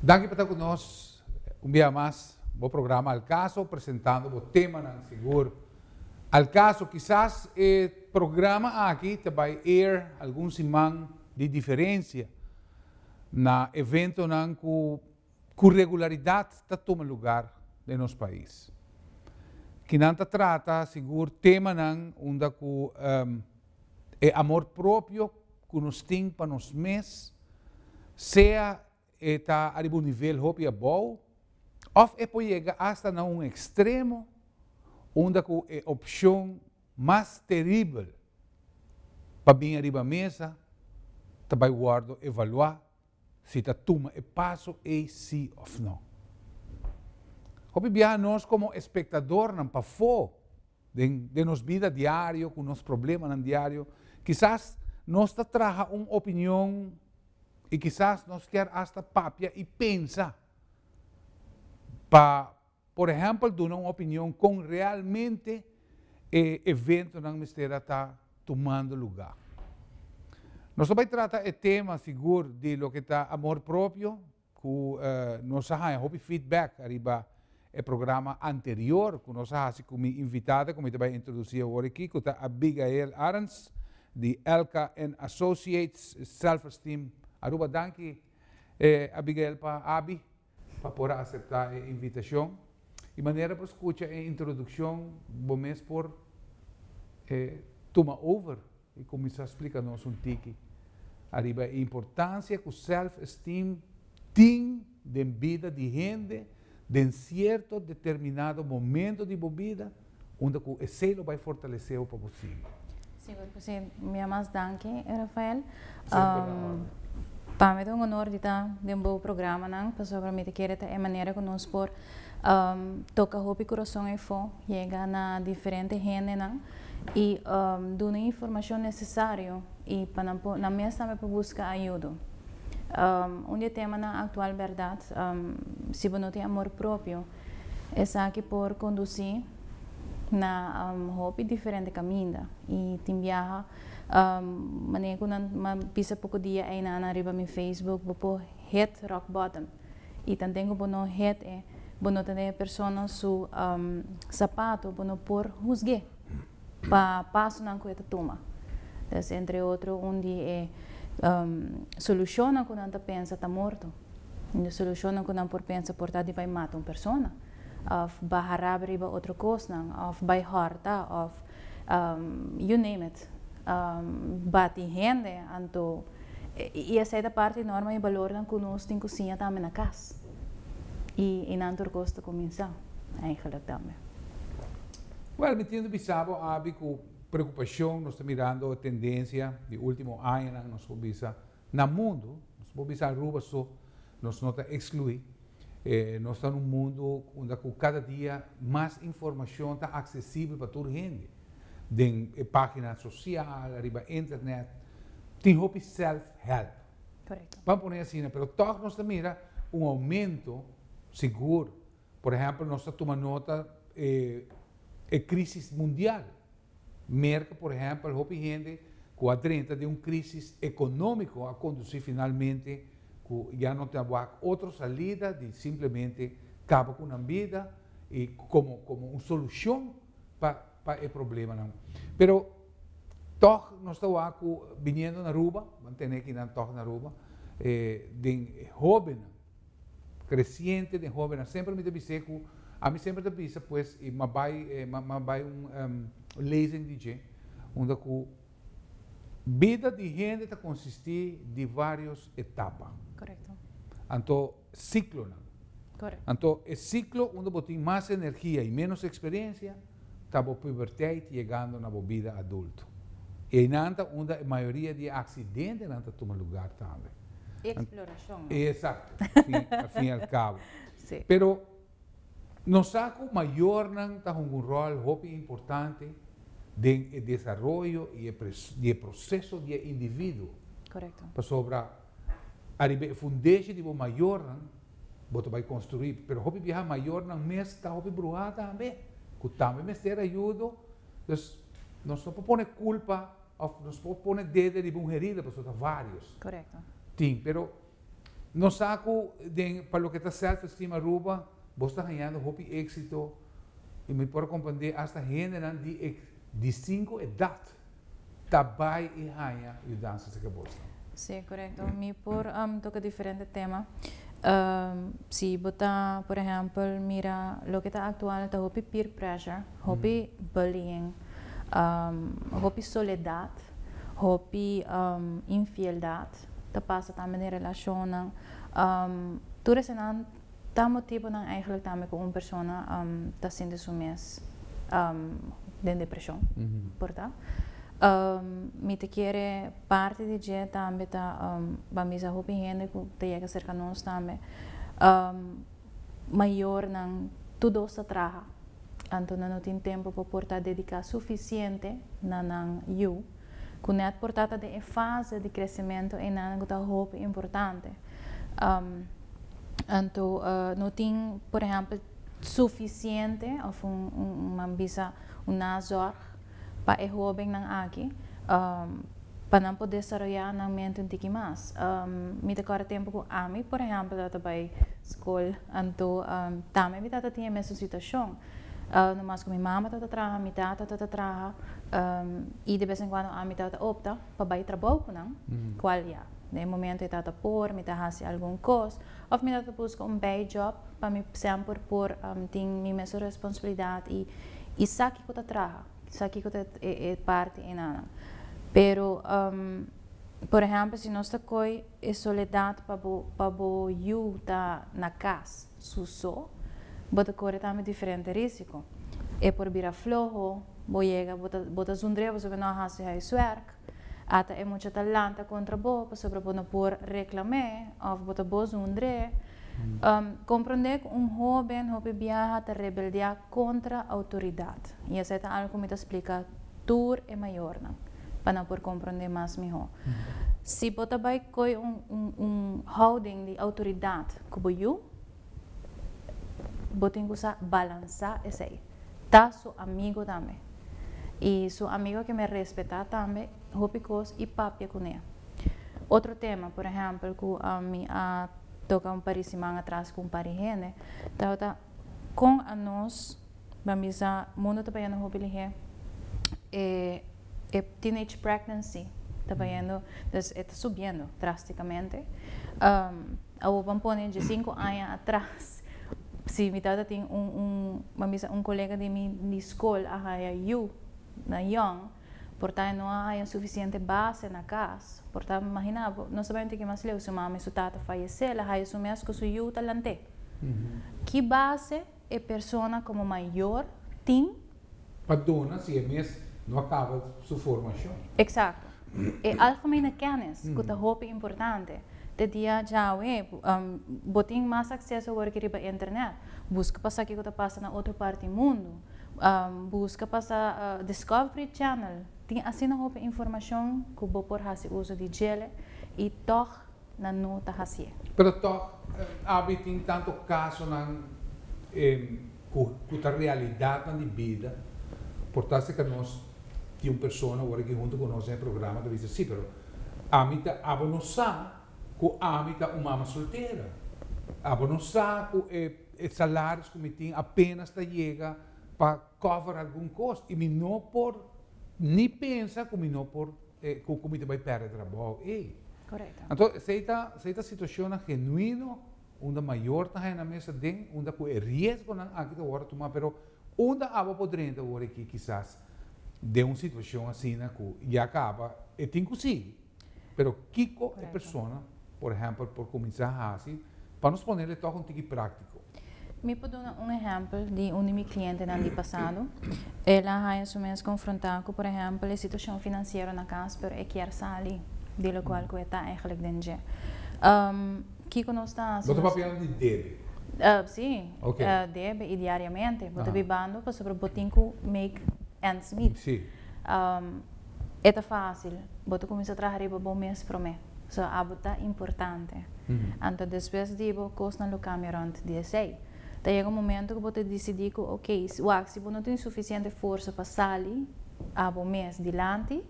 Danki pa ta ku nos un bia mas. Bo programa Al Caso presentando bo temanan sigur. Al Caso, kisas e programa aki ta bai air algun siman di diferensia na eventonan ku ku regularidat ta tuma lugar den nos pais. Kinan ta trata sigur temanan unda ku. e amor propio ku nos tin pa nos mes, sea e ta ariba un nivel hopi abou òf e por yega asta na un ekstremo unda ku e opshon mas teribel pa bin ariba mesa ta bai wòrdu evaluá si ta tuma e paso ei si òf no. Hopi biaha nos komo espektadornan pafó den den nos bida diario ku nos problemanan diario kisas nos ta traha un opinion i kisas nos kier asta papia i pensa pa por ehèmpel duna un opinion kon realmente e eventonan mester a ta tumando lugá. Nos ta bai trata e tema sigur di loke ta amor propio, ku nos a haña hopi feedback ariba e programa anterior ku nos a hasi ku mi invitada ku mi ta bai introdusí awor aki ku ta Abigail Arends di Elka and Associates Self Esteem Aruba. Danki Abigail pa Abi pa por a aseptá e invitashon i manera bo skucha e introdukshon bo mes por tuma over. E kuminsá splika nos un tiki ariba e importansia ku sèlf-esteem tin den bida di hende den sierto determinado momento di bo bida, unda ku esei lo bai fortalesé bo pa bo sigui. Sigur ku si. Mi a mas danki e Rafael. Semper a órden. Pa mi ta un honor di ta den bo programanan, pasobra mi ta kere ta e manera ku nos por. Toca hopi corazon efo, yega na diferente hendenan y dun'e informacion necesario y pa nan por, nan mes tambe por busca ayudo. Un di e temanan actual berdad, si bo no tin amor propio, esaki por conduci na hopi diferente caminda y tin biaha, manera cu nan bisa poco dia eynan ariba mi Facebook, bo por hit rock bottom. y ta dengo bo no het e bo no ta den e persona su sapato bo no por husge pa pasonan cu e ta tuma es entre otro un di e solucionnan cu nan ta pensa ta morto un di e solucionnan cu nan por pensa por ta di bay mata un persona of baha rabi riba otro cosnan of bay horta of you name it. bati hende anto y esey ta parti norma y balornan cu nos tin cu siña tambe na cas y y nan tur cos ta cuminsa eigenlijk tambe. Well mi tin bisabo abi cu preocupacion nos ta mirando tendencia di ultimo añanan nos por bisa. Na mundu, nos por bisa Aruba so, nos no ta exclui. Nos ta n'un mundu unda cu cada dia mas informacion ta accesibel pa tur hende, den e pagina social, riba internet. Tin hopi self help, pa pone asina, pero toch nos ta mira un aumento sigur. Por ehempel nos ta tuma nota e crisis mundial. Merca, por ehempel, hopi hende cu a drenta den un crisis economico a conduci finalmente cu ya no ta wak otro salida di simplemente caba cu nan bida y como como un solucion pa pa e problemanan. Pero tog nos ta wak cu biniendo na Aruba, bo a tende aki nan tog na Aruba, den hobennan. creciente den hobennan semper mi ta bis'é cu ami semper ta bisa pues y m'a bay m'a bay un lezing di dje unda cu bida di hende ta consisti di varios etapa anto ciclonan anto e ciclo unda bo tin mas energia y menos experiencia. ta bo puberteit yegando na bo bida adulto. I einan ta unda e mayoria di e aksidentenan ta tuma lugar tambe. E eksplorashon no. Esakto, al fin i al kabo. Si. Pero nos sa ku mayornan ta hunga un ròl hopi importante den e desaroyo i e di e proseso di e individuo. Korekto. Pasobra ariba e fundesho di bo mayornan bo ta bai konstruí, pero hopi biaha mayornan mes ta hopi bruhá tambe ku tambe mester ayudo, dus nos no por pone kulpa òf nos por pone dede riba un herida pasobra ta varios. Korekto. Tin, pero nos sa ku den pa loke ta self esteem Aruba bo ta hañando hopi éksito i mi por a komprendé asta hendenan di e di sinku edat Ta bai y haña yu danza si kebosnan. Sí, korekto. Mi por toka diferente tema. Si bo ta, por ehèmpel, mira loke ta aktual, ta hopi peer pressure, hopi bullying, hopi soledat, hopi infieldad ta pasa tambe den relashonnan. Tur eseinan Ta motibonan eigenlijk tambe ku un persona ta sinti su mes den depresion, por ta? Mi ta kere parti di dje tambe ta ban bisa hopi hende ku ta yega serka nos tambe, mayornan tur dos ta traha, anto nan no tin tempu pa por ta dediká sufisiente na nan yu. Ku nèt por tata den e fase di kresementu einan ku ta hopi importante. Anto no tin por ehèmpel sufisiente òf un nan bisa un nazorg pa e hobennan aki pa nan por desaroyá nan mente un tiki mas. Mi ta kòrda tempu ku ami por ehèmpel tabata bai skol anto tambe mi tata tin e mesun situashon. Uh, no mas cu mi mama ta ta traha, mi tata ta ta traha, um, y de vez en cuando ami ta ta opta pa bay trabou cu nan, cual ya, na e momento e ta ta por, mi ta haci algun cos, of mi ta ta busca un bay job pa mi semper por um, tin mi mes responsabilidad y, y sa kico ta traha, sa kico ta e, e parti enanan. Pero, um, por ehempel, si nos ta coy e soledad pa bo, pa bo yu ta na cas, Su so, bo ta kore tambe diferente risiko. E por bira floho, bo yega bo ta zundr'e pasobra no a hasi huiswerk, ata e mucha ta lanta kontra bo pasobra bo no por reklam'e òf bo ta bo zundr'e. Komprondé ku un hóben hopi biaha ta rebeldiá kontra outoridat i esei ta algu ku mi ta splika tur e mayornan pa nan por komprondé mas mihó. Si bo ta bai koi un houding di outoridat, ku bo yu, bo tin ku sa balansá esei. Ta su amigu tambe. I su amigu a ke me respetá tambe hopi kos i papia kuné. Otro tema, por ehèmpel, ku mi a toka un par di siman atras ku un par di hende, tabata kon a nos. Ban bisa mundo ta bayendo hopi lihé e e teenage pregnancy ta bayendo dus e ta subiendo drásticamente. Um awo ban pone dje sinku aña atras si mi tata tin un un ban bisa un kolega di mi di skol a haya yu na yòn por ta e no a haya sufisiente base na kas por ta imagina bo no sabendo te ke mas leu su mama i su tata fayesé el a haya su mes ku su yu ta lant'é ki base e persona komo mayor tin. Pa dona si e mes no a kaba su formashon. Eksakto. E algemene kennis ku ta hopi importante. Te dia djawe bo tin mas akseso awor aki riba internet. Buska pa sa kiko ta pasa na otro parti di mundu. Buska pa sa Discovery Channel tin asina hopi informashon ku bo por hasi uso di djele i tòg. nan no ta hacié. Pero tog abi tin tanto casonan cu ta realidadnan di bida, por ta acerca nos di un persona wor aki hunto cu nos den e programa ta bisa si, pero ami ta abo no sa cu ami ta un mama soltera, abo no sa cu e salaris cu mi tin apenas ta yega pa cover algun cos y mi no por ni pensa cu mi no por e cu cu mi ta bay perde trabou ey. Correcto. Anto esey ta, esey ta situacionnan genuino unda mayornan hay na mesa den unda cu e riesgonan aki ta wordo tuma pero unda abo por drenta wor eki kisas den un situacion asina cu ya caba e tin cu sigui pero kico e persona por ehempel por cuminsa haci Pa nos ponel e tòg un tiki práktiko. Mi por duna un ehèmpel di un di mi klientenan di pasado. El a haña su mes konfrontá ku por ehèmpel e situashon finansiero na kas pero e kier sali di e lokual ku e ta eigelik den dje. Kiko nos ta hasi? Bo ta papiando di debe? Sí, debe i diariamente bo ta bibando pasobra bo tin ku make ends meet. E ta fásil, bo ta kuminsá traha riba bo mes promé. So, abo ta importante. Anto despues di bo, kosnan lo kambia rònt di esei. Ta yega un momentu ku bo ta disidí ku, ok, wak, si bo no tin sufisiente forsa pa sali abo mes dilanti,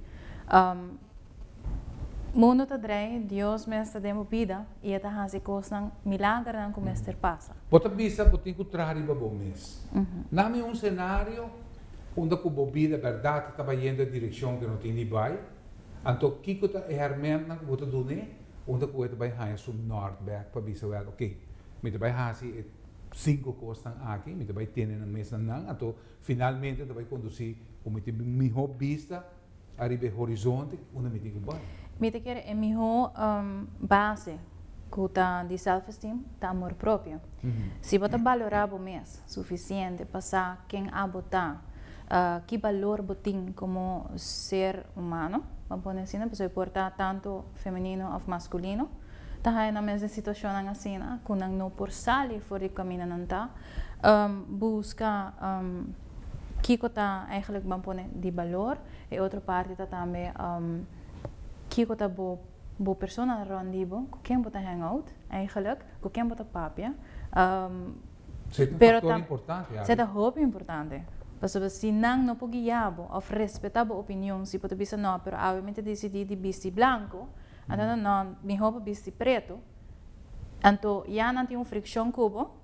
mundu ta drei, Dios mes ta den bo bida i e ta hasi kosnan, milagernan ku mester pasa. Bo ta bisa ku bo tin ku traha riba bo mes. Dame un senario. Unda ku bo bida bèrdat ta bayendo e direkshon ku e no tin di bai? Anto kiko ta e hèrmèntnan ku bo ta duna e? Unda ku e ta bai haña su nòrtbèk pa bisa wèl, Oké, mi ta bai hasi e sinku kosnan aki, mi ta bai tene nan mes na nan, anto finalmente ta bai kondusí ku mi tin mihó bista, Ariba e horizonte unda mi tin ku bai. Mi ta kere e mihó base ku ta di self-esteem ta amor propio. Si bo ta balorá bo mes sufisiente pa sa ken abo ta, ki balor bo tin komo ser humano, pa pone asina pasobra e por ta tantu femenino òf maskulino, ta haña nan mes den situashonnan asina ku nan no por sali for di ku kaminda nan ta, buska. kiko ta eigenlijk ban pone di balor, e otro parti ta tambe kiko ta bo bo persona rond di bo, ku ken bo ta hang out eigenlijk, ku ken bo ta papia, pero ta se ta hopi importante, pasobra si nan no por guia bo òf respetá bo opinion, si bo ta bisa nò pero awe mi ta disidí di bisti blanku, anto nan nò mihó pa bisti pretu, anto ya nan tin un frikshon ku bo.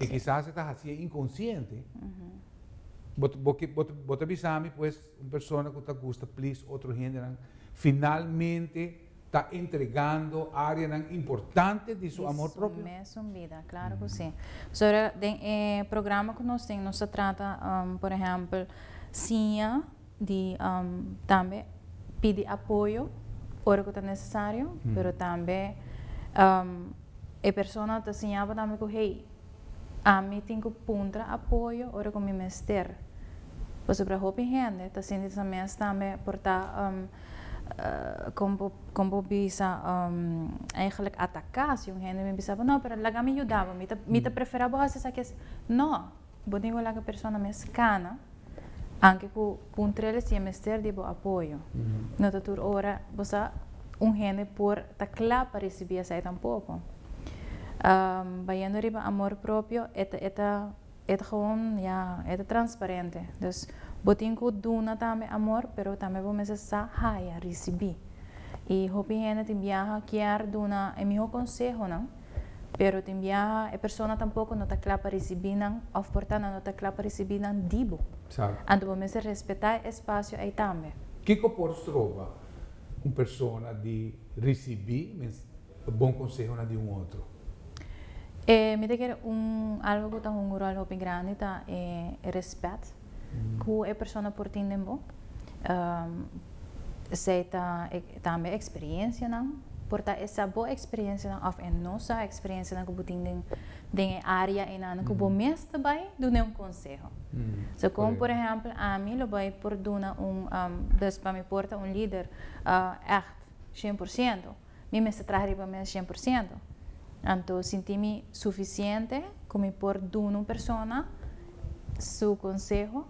y kisas e ta hacié inconsciente, bo ta bisa mi pues un persona cu ta gusta please otro hendenan finalmente ta entregando areanan importante di su amor propio? Di su mesun bida, claro cu si. Pasobra den e programa cu nos tin nos ta trata por ehempel siña di tambe pidi apoyo ora ku ta nesesario pero tambe e persona ta siñaba tambe ku hey ami tin ku puntra apoyo ora ku mi mester pasobra hopi hende ta sinti sa mes tambe por ta kon bo bisa eigentlik ataka si un hende mi bisabo no pero laga mi yudabo mi ta prefera bo hasi esaki no Bo tin cu laga persona mes cana, anke cu un trele si e mester di bo apoyo. No ta tur ora bo sa un hende por ta cla pa ricibi esai tampoco. Bayendo riba amor propio, e ta, e ta, e ta gewoon ya, e ta transparente. Dus bo tin cu duna tambe amor, pero tambe bo mester sa haya, ricibi. Y hopi hende tin biaha kier duna e miho consehonan. Pero tin biaha e persona tampoko no ta kla pa risibí nan òf por ta nan no ta kla pa risibí nan di bo. Exacto. Anto bo mester respetá e espasio ei tambe. Kiko por stroba un persona di risibí bon konsehonan di un otro? Mi ta kere un algu ku ta hunga un ròl hopi grandi ta e respèt. ku e persona por tin den bo. Esei ta tambe e eksperiencianan, por ta e sa bo eksperiencianan of e no sa eksperiencianan ku bo tin den e área einan ku bo mes ta bai duna un konseho. So kon por ehèmpel ami lo bai por duna un, dus pa mi por ta un lider ègt, sien por siento. Mi mester traha riba mes shen por siento. Anto sinti mi sufisiente ku mi por duna un persona su konseho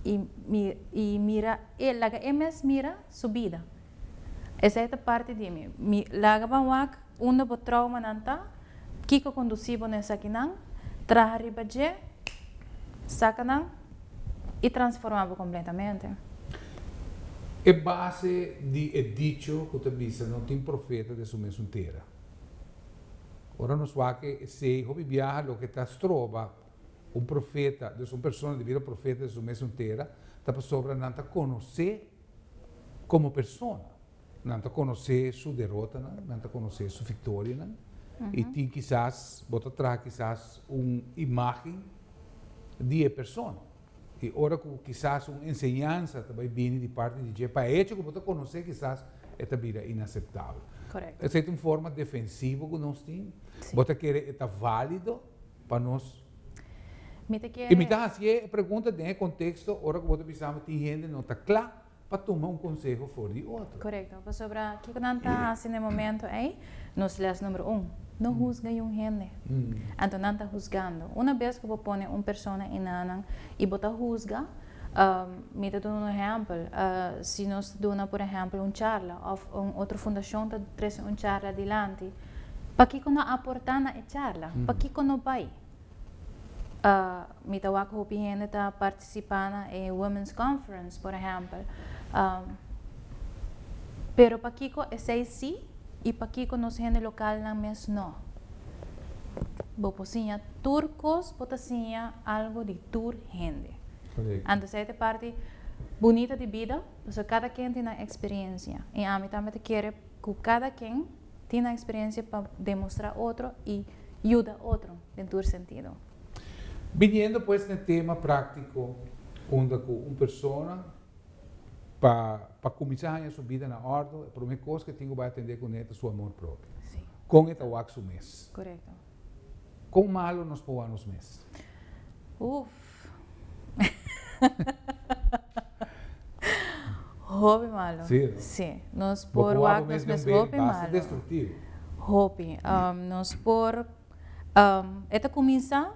i mi i mira el laga el mes mira su bida. Esei ta parti di mi. Mi laga ban wak unda bo troumanan ta, kiko kondusí bo na esakinan, traha riba dje, saka nan. i transforma bo completamente. E base di e dicho cu ta bisa no tin profeta den su mesun tera. Ora nos wak esey hopi biaha loke ta stroba un profeta dus un persona di bira profeta den su mesun tera ta pasobra nan ta conoce como persona. Nan ta konosé su derotanan, nan ta konosé su viktorianan, i tin kisas, bo ta traha kisas un imágen di e persona. I ora ku kisas un enseñansa ta bai bini di parti di dje, pa e hecho ku bo ta konosé kisas e ta bira inaseptabel. Korekto. Esei ta un forma defensivo ku nos tin, Si. bo ta kere e ta válido pa nos. Mi ta kere. I mi ta hasié e pregunta den e konteksto ora ku bo ta bisa tin hende no ta kla. pa tuma un konseho for di otro. Korekto, pasobra kiko nan ta hasi na e momentu ei? Nos lès numero un, No husga yun hende. Anto nan ta husgando. Una bes ku bo pone un persona inanan i bo ta husga, mi ta duna un ehèmpel, si nos ta duna por ehèmpel un charla òf un otro fundashon ta trese un charla dilanti, pakiko no aportá na e charla? Pakiko no bai? mi ta wak hopi hende ta participa na e women's conference por ehempel pero pakiko esey si y pakiko nos hende local nan mes no bo por siña tur cos bo ta siña algo di tur hende anto esey ta e parti bunita di bida pasobra cada ken tin nan experiencia y ami tambe ta kere cu cada ken Tin nan experiencia pa demostra otro y yuda otro den tur sentido. Biniendo pues n'e tema practico unda cu un persona pa pa cuminsa haña su bida na ordo e prome cos cu e tin cu bay atende cune ta su amor propio. Con e ta wak su mes. Kon malo nos poa nos mes? Uf. Hopi malo. Si, no? Si. Nos Bo por poa wak bo mes nos den mes un be hopi basta malo. destruktivo. Hopi. Am, nos por, am, e ta kuminsá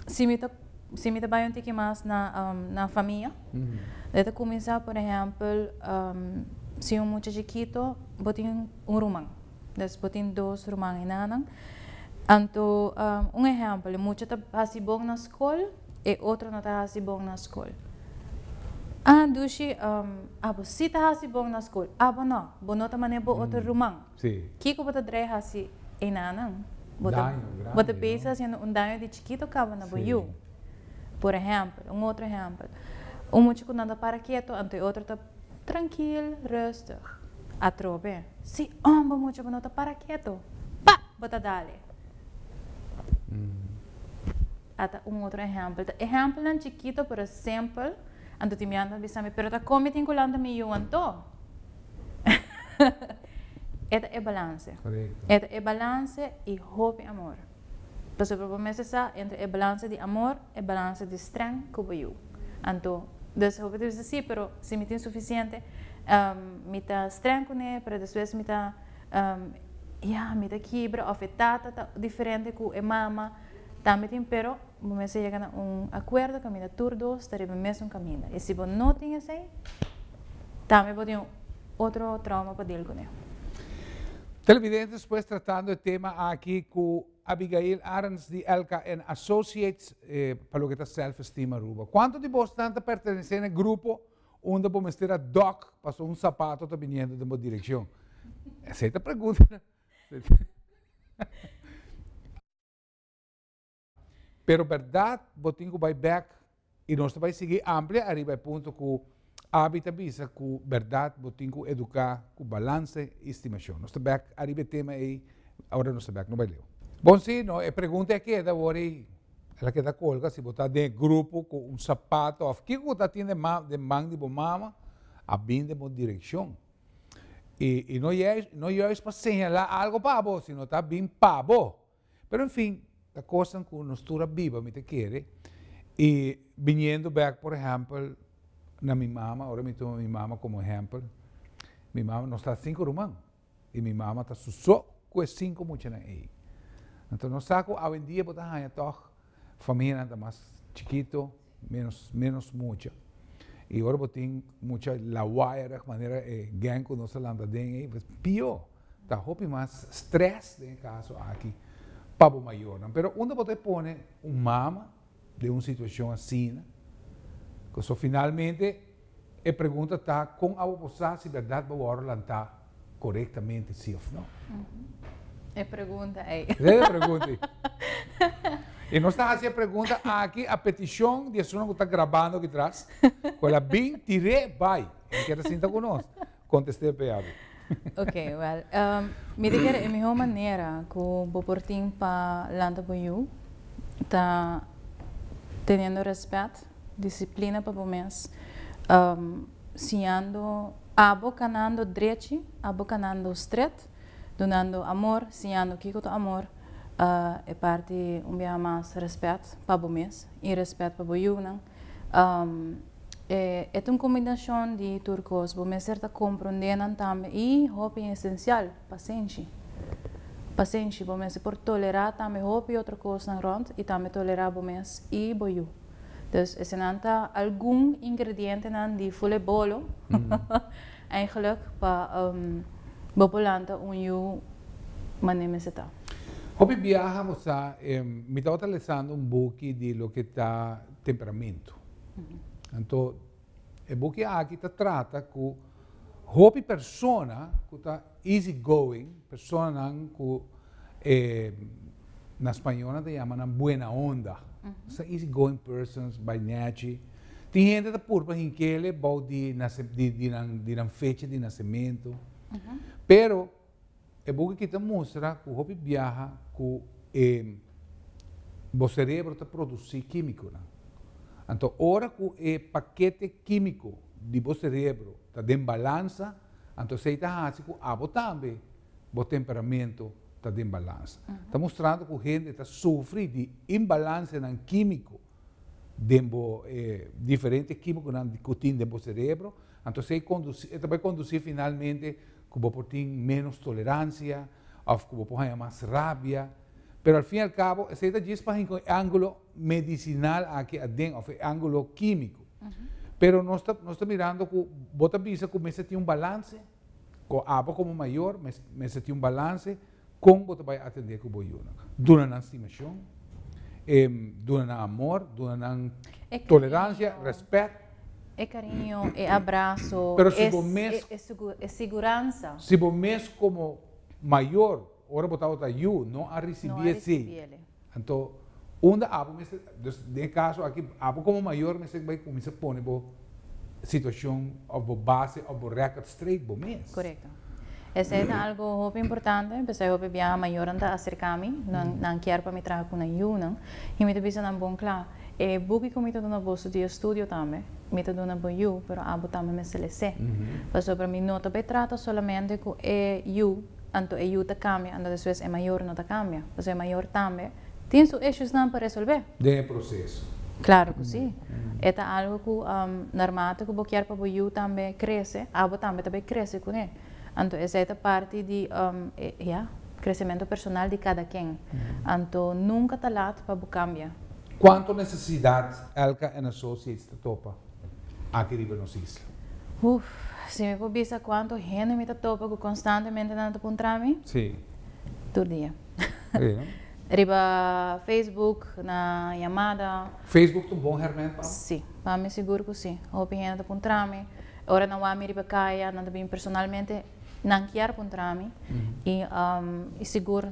si mi ta, si mi ta bai un tiki mas na, am, na famia, e ta kuminsá, por ehèmpel, am, si un mucha chikito bo tin un ruman. Des bo tin dos ruman i nannan. Anto un ehèmpel, e mucha ta hasi bon na skol, e otro no ta hasi bon na skol. A dushi abo si ta hasi bon na skol, abo no, bo no ta manera bo otro ruman. Kiko bo ta drai hasi e nannan? Bo ta bisa hasiendo un daño di chikito kaba na bo yu. Por ehèmpel, un otro ehèmpel, un mucha ku nan ta para keto anto e otro ta. Trankil, rustig. Atrobe. Si omba mucha bo no ta para keto. Pa! Bo ta dale. Ata un otro ehempel. Ta ehempelnan chikito pero simpel. Anto tin biaha anto bisa mi, pero ta kon mi tin kulanta mi yu anto. E ta e balanse. E ta e balanse i hopi amor. Pasobra bo mester sa entre e balansa di amor, e balansa di strèng ku bo yu. Anto, dus hopi ta bisa sí, pero si mi tin sufisiente, mi ta strèng kuné, pero despues mi ta, ya, mi ta kibra, òf e tata ta diferente ku e mama, tambe tin pero, bo mester yega na un akuerdo kaminda tur dos ta riba e mesun kaminda. I si bo no tin esei, tambe bo tin. Otro trauma pa deel cun'e. Televidentes pues tratando e tema aki cu Abigail Arends di LKN Associates pa loke ta self esteem Aruba. Cuanto di bosnan ta pertenece n'e grupo unda bo mester a duck pasobra un sapato ta biniendo den bo direccion? Esey ta pregunta. Pero bèrdat bo tin ku bai bèk i nos ta bai sigui amplia ariba e punto ku Aby ta bisa ku bèrdat bo tin ku eduká ku balanse i stimashon. Nos ta bèk ariba e tema ei ora nos ta bèk. No bai leu. Bon si no, e pregunta a keda wòrdu i el a keda kolga si bo ta den e grupo ku un sapato òf kiko ku ta tin den man den man di bo mama a bin den bo direkshon. I i no yais no yais pa señalá algu pa bo sino ta bin pa bo. Pero en fin, ta kosnan ku nos tur a biba mi ta kere i biniendo bek por ehèmpel na mi mama, ora mi tuma mi mama komo ehèmpel, mi mama, nos ta sinku ruman i mi mama ta su so ku e sinku muchanan ei. Anto nos sa ku awendia bo ta haña tòg Famianan ta mas chikito, menos menos mucha. I ora bo tin mucha lawaaiarig manera e gèng ku nos ta lanta den ei, pues pió. Ta hopi mas strès den e kaso aki pa bo mayornan. Pero unda bo ta e pone un mama den un situashon asina? Ku so finalmente. E pregunta ta, Kon awa por sa si bèrdat bo wòrdu lantá korektamente, sí òf no? E pregunta ei. Esei e pregunta ei. I nos ta hasi e pregunta aki a petishon di esunnan ku ta grabando aki tras, ku el a bin tir'é bai, el a keda sinta ku nos. Contesté p'e abi. Ok, well, mi ta kere e mihó manera ku bo por tin pa lanta bo yu ta teniendo rèspèt, disiplina pa bo mes, siñando abo kanando drechi, abo kanando stret, dunando amor, siñando kiko ta amor, e parti un biaha mas rèspèt pa bo mes i rèspèt pa bo yunan, E ta un kombinashon di tur kos. Bo mester ta kompronde nan tambe i, hopi esensial, pasenshi. Pasenshi, bo mester por tolerá tambe hopi otro kosnan rònt i tambe tolerá bo mes i bo yu. Dus, esenan ta algun ingredientenan di Fulebolo. Eigenlijk pa bo por lanta un yu mane mester ta. Hopi biaha a musa em mi tabata lesando un buki di loke ta temperamentu. Anto e buki aki ta trata ku hopi persona ku ta. Easy going, personanan ku e na spañol nan ta yama nan buena onda. Esnan easy going persons, bai nèchi. Tin hende ta puru pa hinkele bou di di nan fecha di nasementu. Pero e buki aki ta mustra ku hopi biaha ku e bo serebro ta produsí kímikonan. Anto ora ku e pakete kímiko di bo serebro ta den balansa, Anto esei ta hasi ku abo tambe bo temperamentu ta den balans. Ta mustrando ku hende ta sufri di imbalansianan kímiko den bo e diferente kímikonan ku tin den bo serebro, anto esei kondusí, e ta bai kondusí finalmente ku bo por tin ménos toleransia òf ku bo por haña mas rabia. Pero al fin y al cabo esei ta djis pasobra e ángulo. medisinal aki aden of e angulo kimico. Pero nos ta nos ta mirando cu bo ta bisa cu mester tin un balance cu abo como mayor mes mester tin un balance con bo ta bay atende cu bo yunan. Duna nan stimacion, em duna nan amor, duna nan tolerancia, respect. E cariño, e abrazo, e e seguransa. Si bo mes como mayor. Ora bo tabata yu, no a risibí e sin, anto unda apo mester, dus den e kaso aki apo komo mayor mester bai kuminsá pone bo situashon òf bo base òf bo rèkòt streit bo mes. Korekto. Esei ta algu hopi importante, p'esei hopi biaha mayornan ta aserká mi, nan nan kier pa mi traha ku nan yunan, i mi ta bisa nan bon kla, e buki ku mi ta duna boso di estudio tambe, mi ta duna bo yu, pero abo tambe mester lesé. Pasobra mi no ta bai trata solamente ku e yu. Anto e yu ta cambia, anto despues e mayor no ta cambia. Pasobra e mayor tambe tin su eshusnan pa resolbe. Den e proceso. Claro cu si. E ta algo cu naarmate cu bo kier pa bo yu tambe crece, abo tambe ta bay crece cu e. Anto esey ta parti di ya, crecemento personal di cada ken. Anto nunca ta laat pa bo cambia. Cuanto necesidad elca en associates ta topa? aki riba nos isla. Uff, si mi por bisa cuanto hende mi ta topa cu constantemente nan ta puntra mi, Sí. tur dia. Sí, no? Riba Facebook, na yamada. Facebook ta un bon herment pa bo? Sí, pa mi sigur cu sí. Hopi hende ta puntra mi, ora nan wak mi riba caya, nan ta bini personalmente. Nan kier puntra mi y y sigur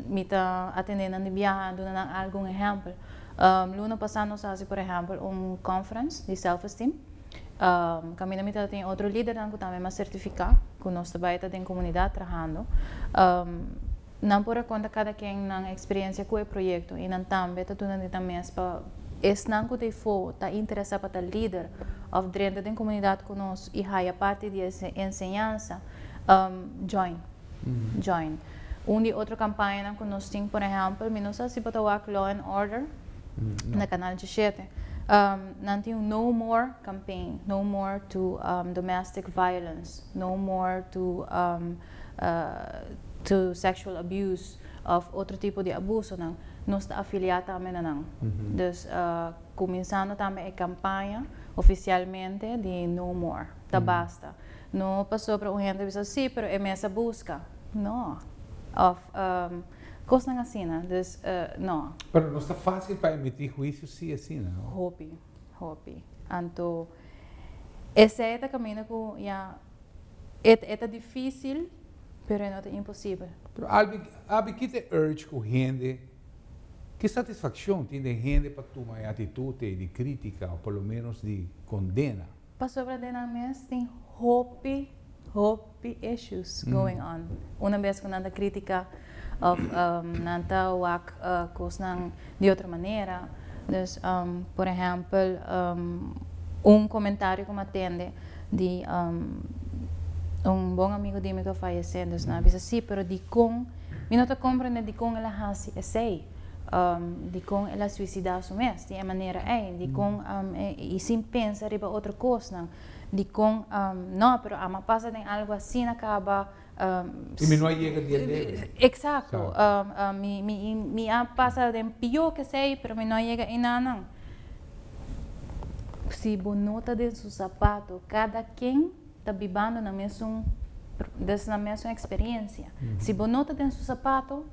mi ta atende nan di biaha duna nan algun ehempel. Luna pasa nos a haci por ehempel un conference di self esteem caminda mi ta tin otro lidernan cu tambe mas certifica cu nos ta bay ta den comunidad trahando. Nan por a konta kada ken nan eksperensia ku e proyekto i nan tambe ta duna di nan mes pa. Esnan ku tefo ta interesá pa ta lider òf drenta den komunidat ku nos i haya parti di e enseñansa, join join un di otro kampañanan ku nos tin. Por ehèmpel, mi no sa si bo ta wak Law and Order na Kanal Djishete. Nan tin un No More Campaign, No More to Domestic Violence, No More to. to sexual abuse of otro tipo di abusonan, nos ta afiliá tambe na nan. Dus kuminsando tambe e kampaña ofisialmente di No More, Ta Basta. No pasó pero un hende a bisa, sí, pero e mes a buska. No. Òf kosnan asina. Dus, no. Pero nos ta fásil pa emití huisio sí asina, no? Hopi. Hopi. Anto, esei ta kaminda ku ya e ta e ta difísil, pero e no ta imposibel. Pero albi abi kit e urge ku hende, ki satisfakshon tin den hende pa tuma e atitut ei di krítika o por lo ménos di kondena? Pasobra den nan mes tin hopi, hopi issues going on. Una bes ku nan ta kritika òf nan ta wak kosnan di otro manera. Dus, por ehèmpel, un komentario ku mi a tende di un bon amigu di mi ku a fayesé. Dus nan a bisa, sí, pero dikon mi no ta komprendé dikon el a hasi esei? dikon el a suisidá su mes di e manera ei, dikon i sin pensa riba otro kosnan, dikon nò pero amo a pasa den algu asina kaba Y mi no a yega di e debe. Eksakto, mi a pasa den pió ke esei pero mi no a yega einanan. Si bo nota den su sapato kada ken ta bibando na mesun des na mesun experiencia si bo no ta den su sapato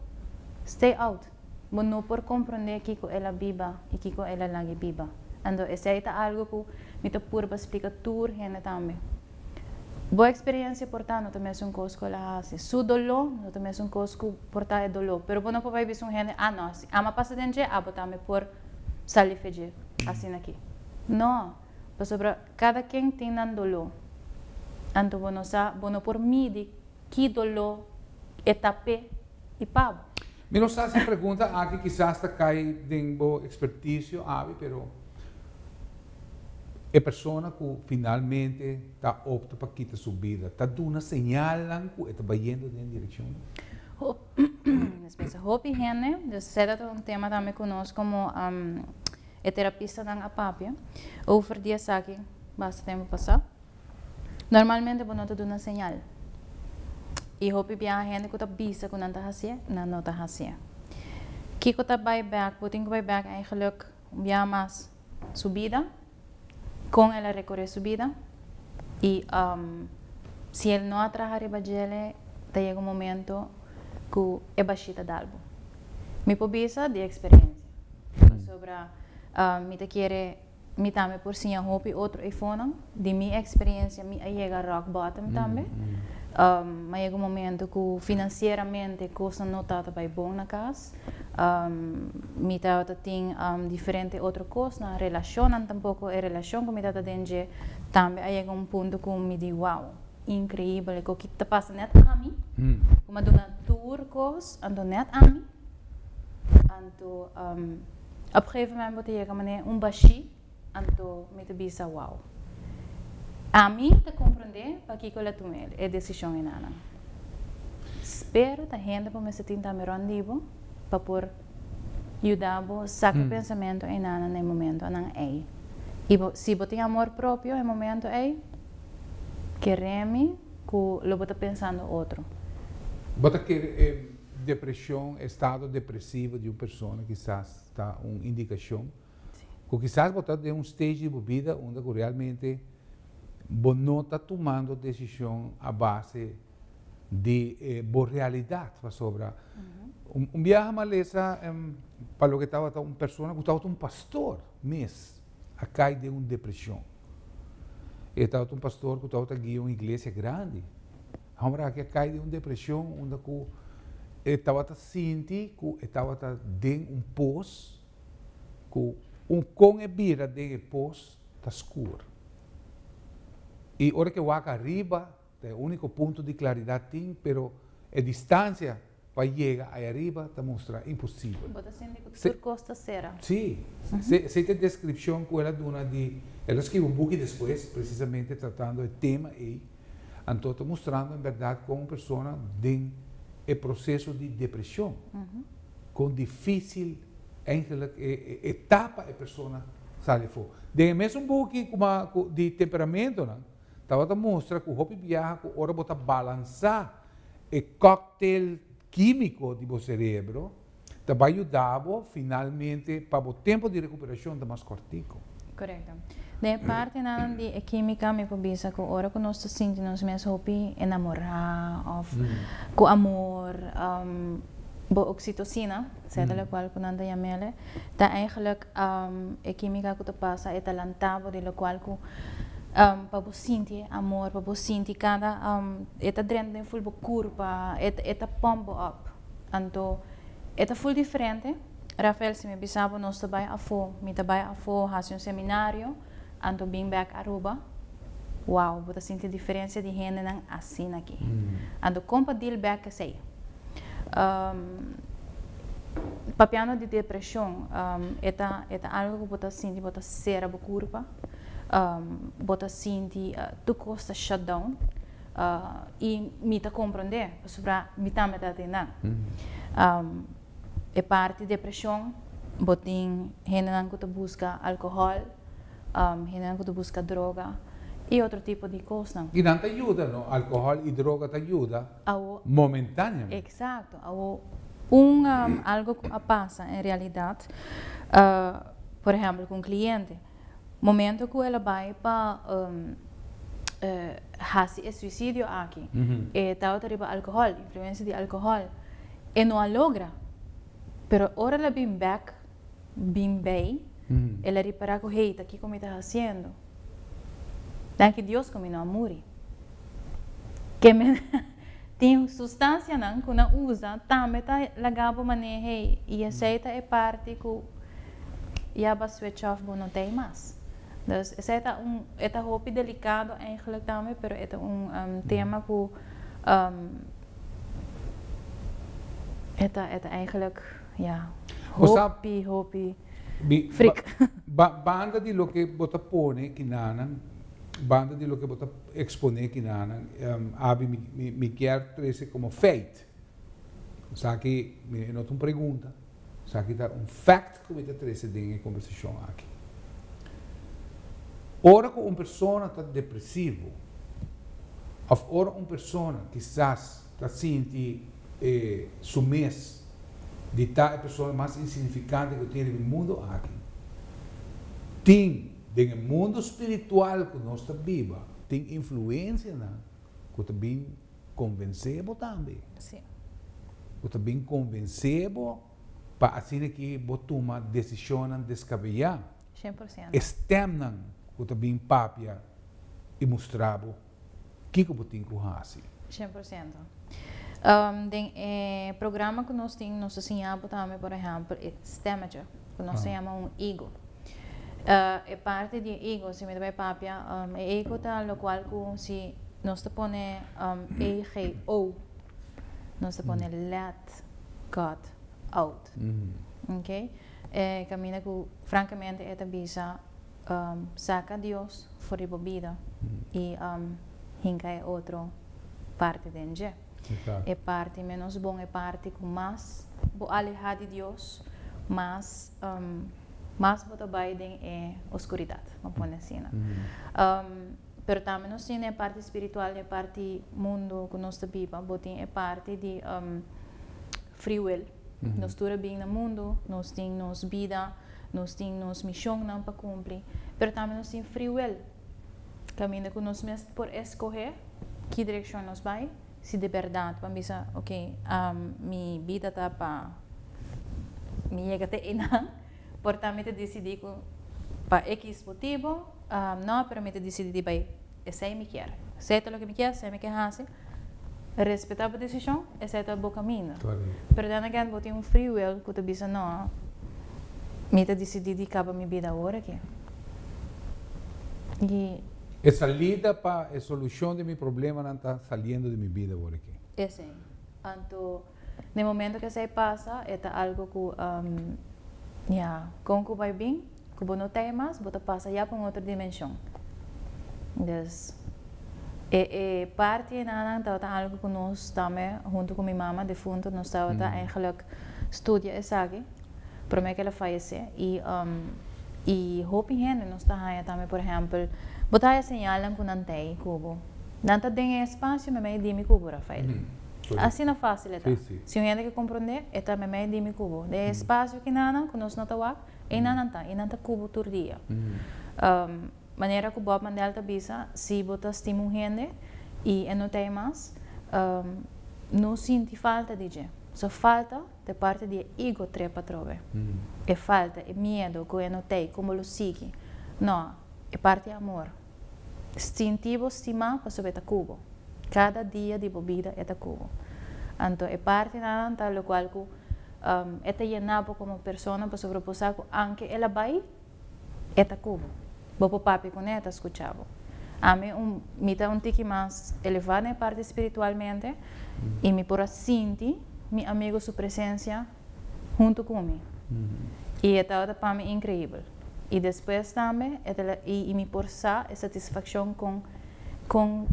stay out bo no por comprende kico el a biba y kico el a lagi biba ando esey ta algo cu mi ta purba splica tur hende tambe bo experiencia por ta no ta mesun cos cu el a haci su dolo no ta mesun cos cu por ta e dolo pero bo no por bay bisa un hende ah no si ama pasa den dje abo tambe por sali fe dje asina ki no pasobra. Cada ken tin nan doló. Anto bo no sa bo no por midi ki doló e ta p'e i pa bo. Mi no sa si e pregunta aki kisas ta cay den bo experticio awe pero e persona cu finalmente ta opta pa kita su bida ta duna señalnan cu e ta bayendo den e direccion. Hopi hende, dus esey ta un tema tambe cu nos como. E terapistanan a papia over di esaki basta tempu pasá. Normalmente bo no ta duna señal. I hopi biaha hende ku ta bisa ku nan ta hasié, nan no ta hasié. Kiko ta bai bèk? Bo tin ku bai bèk eigenluk un biaha mas su bida, kon el a rekoré su bida i si el no a traha riba djele ta yega un momento ku e bashita dalbo. Mi por bisa di eksperensia. Pasobra mi ta kere mi tambe por siña hopi otro e fonan. Di mi experiencia mi a yega rock bottom tambe. a yega un momento cu financieramente cosnan no tabata bay bon na cas. mi tabata tin diferente otro cosnan, relacionnan tampoco. E relacion cu mi tabata den dje tambe a yega un punto cu mi di wow, increibel, e coki ta pasa net ami, cu mi a duna tur cos anto net ami. Anto op gegeven moment bo ta yega manera un bashi, anto mi ta bisa wow. Ami ta comprende pakico el a tuma e decision enana. Spero ta hende bo mester tin tambe rond di bo pa por yuda bo saca pensamento enana na e momentonan ey. Y bo, si bo tin amor propio e momento ey, ke remi cu lo bo ta pensando otro. Bo ta kere e. Depresion, estado depresivo di un persona kisas ta un indikashon ku kisas bo ta den un stage di bo bida unda ku realmente bo no ta tumando desishon a base di bo realidat. Pasobra un biaha malesa pa loke tabata un persona ku tabata un pastor mes a kai den un depreshon. E tabata un pastor ku tabata guia un iglesia grandi. Homber aki a cay den un depresion unda cu e tabata sinti cu e tabata den un pos cu un con e bira den e pos ta scuur. Y ora cu e wak ariba ta e unico punto di claridad tin pero e distancia. pa yega ai ariba ta mustra imposibel. Bo ta sinti ku tur kos ta sera. Sí, se i ta e deskripshon ku el a duna di, el a skirbi un buki despues presisamente tratando e tema ei, anto ta mustrando en bèrdat kon un persona den e proseso di depreshon, kon difísil eigenlik e tapa e persona sali afó. Den e mesun buki di temperamentonan Tabata mustra ku hopi biaha ku ora bo ta balansá e kòktel kímiko di bo serebro ta bai yuda bo finalmente pa bo tempu di rekuperashon ta mas kòrtiku. Korekto. Den e partenan di e kímika mi por bisa ku ora ku nos ta sinti nos mes hopi enamorá òf ku amor bo oksitosina, sèt elekual ku nan ta yam'e ta eigelik E kimika ku ta pasa e ta lanta bo di lokual ku pa bo sinti e amor pa bo sinti kada e ta drenta den ful bo kurpa e ta pump bo up anto e ta ful diferente Rafael si mi bisa bo nos ta bai afo mi ta bai afo hasi un seminario Anto bin bek Aruba, wow bo ta sinti diferencia di hendenan asina aki. Anto con pa deal bek esey? Papiando di depresion e ta e ta algo cu bo ta sinti bo ta cera bo curpa, bo ta sinti tur cos ta shut down y mi ta comprende pasobra mi tambe ta atendan. E parti depresion bo tin hendenan ku ta buska alkohòl, hendenan ku ta buska droga i otro tipo di kosnan. I nan ta yuda no, alkohòl i droga ta yuda momentáneamente. Eksakto. Awo un algo ku a pasa en realidat, por ehèmpel ku un kliente. Momento ku el a bai pa hasi e suisidio aki, e tabata riba alkohòl, influensia di alkohòl. E no a logra, pero ora el a bin bèk, bin bai, el a ripará ku, Hei, ta kiko mi ta hasiendo. Danki Dios ku mi no a muri. Ke mi tin sustansianan ku nan usa tambe ta lagá bo manera hei, i esei ta e parti ku. ya ba switch off bo no ta ei mas. Dus esei ta un e ta hopi delikado eigenlik tambe pero e ta un tema ku e ta e ta eigenlik ya hopi hopi frik. Banda di loke bo ta pone kinanan banda di loke bo ta ekspone kinanan abi mi kier trese komo feit. Esaki no ta un pregunta, esaki ta un fèkt ku mi ta trese den e kombersashon aki. Ora ku un persona ta depresivo òf ora un persona kisas ta sinti e su mes di ta e persona mas insignifikante ku tin riba e mundu aki, tin den e mundu spiritual ku nos ta biba tin influensianan ku ta bin. konvensé bo tambe. Bo ta bin konvensé bo pa asina ke bo tuma desishonnan deskabeyá. E stèmnan ku ta bin papia i mustra bo kiko bo tin ku hasi. Den e programa ku nos tin, nos ta siña bo tambe, por ehèmpel, e stèmetje. ku nos ta yama un higo. E parti di e higo, si mi ta bai papia, e higo ta lokual ku si nos ta pone AGO, nos ta pone let God out. Ok? E kaminda ku frankamente e ta bisa saka Dios for di bo bida i hinka e otro parti den dje. e parti ménos bon, e parti ku mas bo alehá di Dios, mas mas bo ta bai den e oskuridat, bo pone asina. Pero tambe nos tin e parti spiritual, e parti mundu ku nos ta biba, bo tin e parti di free will, nos tur a bin na mundu, nos tin nos bida, nos tin nos mishonnan pa kumpli, pero tambe nos tin free will. Kaminda ku nos mes por eskohé ki direkshon nos bai, si di bèrdat bo bisa, ok, mi bida ta pa mi yega te einan, por ta mi ta disidí ku pa ekis motibu, nò, pero mi ta disidí di bai esei mi kier. Se ta loke mi kier, se mi ke hasi, Respetá bo desishon, esei ta bo kaminda. Pero den again bo tin un free will ku ta bisa, No, mi ta disidí di kaba mi bida awor aki. I. E salida pa e solushon di mi problemanan ta saliendo di mi bida awor aki. Esei. Anto. Den momento cu esey pasa, e ta algo cu, ya, con cu bay bin, cu bo no ta ey mas, bo ta pasa ya pa un otro dimension. Dus, e e parti enanan tabata algo cu nos tambe, hunto cu mi mama defunto, nos tabata eigenlijk studia esaki, prome cu el'a fayece. Y, y hopi hende nos ta haya tambe, por ehempel, bo ta haya señalnan cu nan ta ey cu bo. Nan ta den e espacio, mi a bay e di mi cu bo, Rafael. Asina fácil e ta. Si un hende ke komprondé, e ta meimei di mi ku bo. Den e spasio ki nannan, ku nos no ta wak, ei nannan ta, i nan ta ku bo tur dia. Manera ku Bob Mandel ta bisa, si bo ta stima un hende i e no ta ei mas, no sinti falta di dje. So falta ta e parti di e ego trep atrobe. E falta, e miedo ku e no ta ei kon bo lo sigui. No, e parti amor. Sinti bo stima pasobra e ta ku bo. Kada dia di bo bida e ta ku bo. Anto e partinanan ta lokual ku e ta yena bo komo persona pasobra bo sa ku anke el a bai e ta ku bo. Bo por papia kuné e ta skucha bo. Ami un mi ta un tiki mas elevá den e parti spiritualmente i mi por a sinti mi amigu su presensia. huntu cu mi. Y e tabata pa mi increibel. Y despues tambe e ta la, y mi por sa e satisfaccion con, con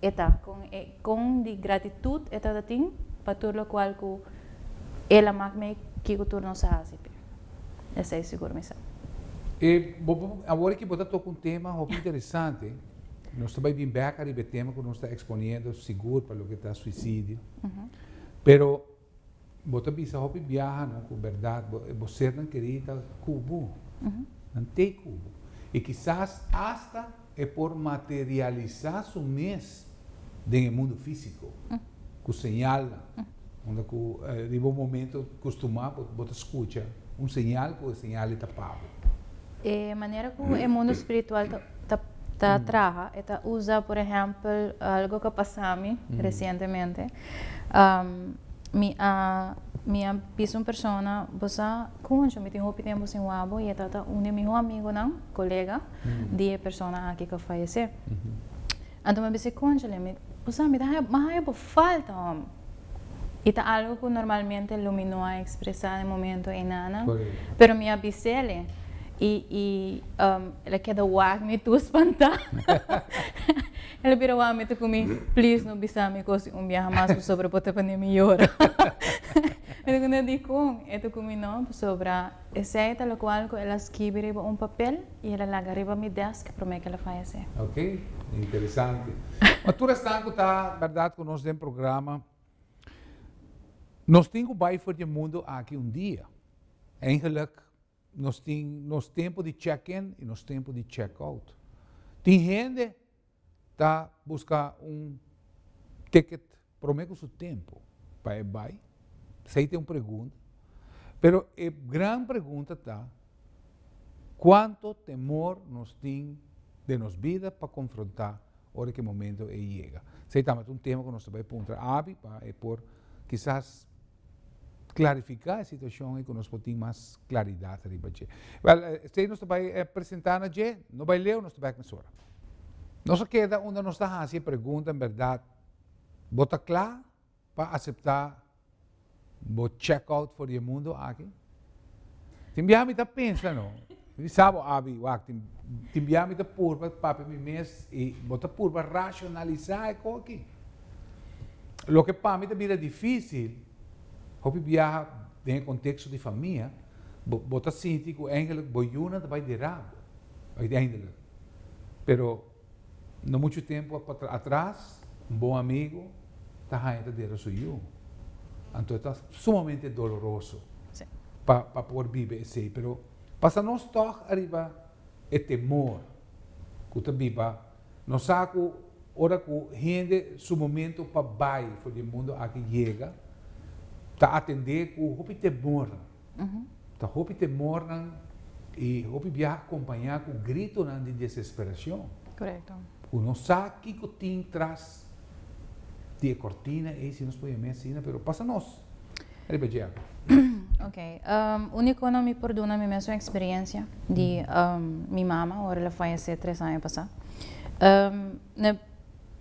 e ta, con e, con di gratitud e tabata tin pa tur locual cu el a maak mee kico tur nos a haci p'e. Esey sigur mi sa. E, bo, bo, awor aki bo ta toca un tema hopi interesante. Nos ta bay bin bek ariba e tema cu nos ta exponiendo sigur pa loke ta suicidio. Pero. Bo ta bisa hopi biahanan ku bèrdat bo e bo sernan kerí ta ku bo. Nan t'ei ku bo. I kisas asta e por materialisá su mes den e mundu físiko ku señalnan. Unda ku riba un momentu kustumá bo ta skucha un señal ku e señal ei ta pa bo. E manera ku e mundu spiritual ta traha e ta usa, por ehèmpel, algu ku a pasami resientemente, Mi a mi a bisa un persona, bo sa concho, mi tin hopi tempo sin wak bo, y e ta ta un di e miho amigonan, colega, di e persona aki cu a fayece. Anto mi a bisa, conchole, mi, bo sa, mi ta haya, mi a haya bo falta, hombre. Y ta algo cu normalmente lo mi no a expresa den e momento enanan, pero mi a bisele, y, y el a keda wak, mi tur spanta. El a bira wami ta cu mi, Please no bisa mi cosi un biaha mas pasobra bo ta pone mi yora. Mi ta cuenta dicon? E ta cu mi no, pasobra esey ta locual cu el a skibi riba un papel y el a laga riba mi desk prome cu el a fayece. Ok, interesante. Pa tur esnan cu ta berdad cu nos den programa, nos tin cu bay for dje mundo aki un dia. Eigenlijk. Nos tin nos tempo di check in y nos tempo di check out. Tin hende ta busca un ticket prome cu su tempo pa e bay, esey ta e un pregunta, pero e gran pregunta ta cuanto temor nos tin den nos bida pa confronta ora ki e momento ey yega. Esey tambe ta un tema cu nos ta bay puntra abi pa e por kisas klarifiká e situashon i ku nos por tin mas klaridat riba dje. Bel, esei nos ta bai presentá na dje, no bai leu, nos ta bèk mesora. Nos a keda unda nos ta hasi e pregunta, en bèrdat bo ta kla pa aseptá bo chèk out for di e mundu aki? Tin biaha mi ta pensa no, mi sa bo abi wak, tin, tin biaha mi ta purba papia mi mes i bo ta purba racionalisa e koe aki. Loke pa mi ta bira dificil, hopi biaha den e contexto di famia, bo, bo ta sinti cu eigenlijk bo yunan ta bay di rabo, uiteindelijk. Pero. No muchu tempu atras, un bon amigu ta haña ta dera su yu. Anto ta sumamente doloroso pa por biba esei. Pero pasa nos tòg ariba e temor ku ta biba. Nos sa ku ora ku hende su momentu pa bai for di e mundu aki yega, ta atendé ku hopi temor. Ta hopi temornan i hopi biaha kompañá ku gritonan di desesperashon. Ku no sa kiko tin tras di e kortina ei, si nos pone mes asina, pero pasa nos riba dje akí. Ok. Unikonan mi por duna mi mesun eksperensia di mi mama, ora el a fayesé tres aña pasá.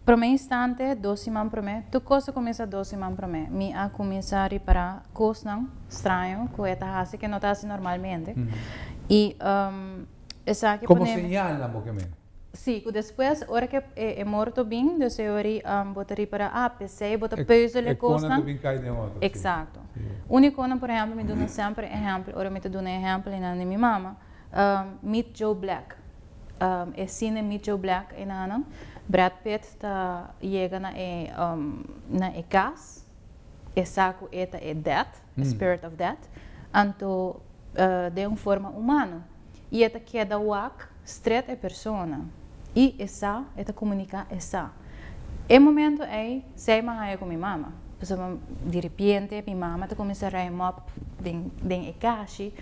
Promé instante, dos siman promé, tur kos a kuminsá dos siman promé. Mi a kuminsá ripará kosnan straño ku e ta hasi ke no ta hasi normalmente. I esaki Komo ponemi. señalnan bo ke mira? Sí, ku despues ora ke e morto bin, dus e ori bo ta ripará, a p'esei bo ta peuzel e kosnan. E konan ta bin kai den otro, sí. Eksakto. Uni konan, por ehèmpel, mi duna semper e ehèmpel, ora mi ta duna e ehèmpel einan di mi mama. Meet Joe Black E sine Meet Joe Black enanan Brad Pitt ta yega na e na e cas e sa cu e ta e death e spirit of death anto den un forma humano y e ta keda wak stret e persona y e sa e ta comunica e sa e momento ey sey ma haya cu mi mama pasobra diripiente mi mama ta cuminsa rij mop den den e cashi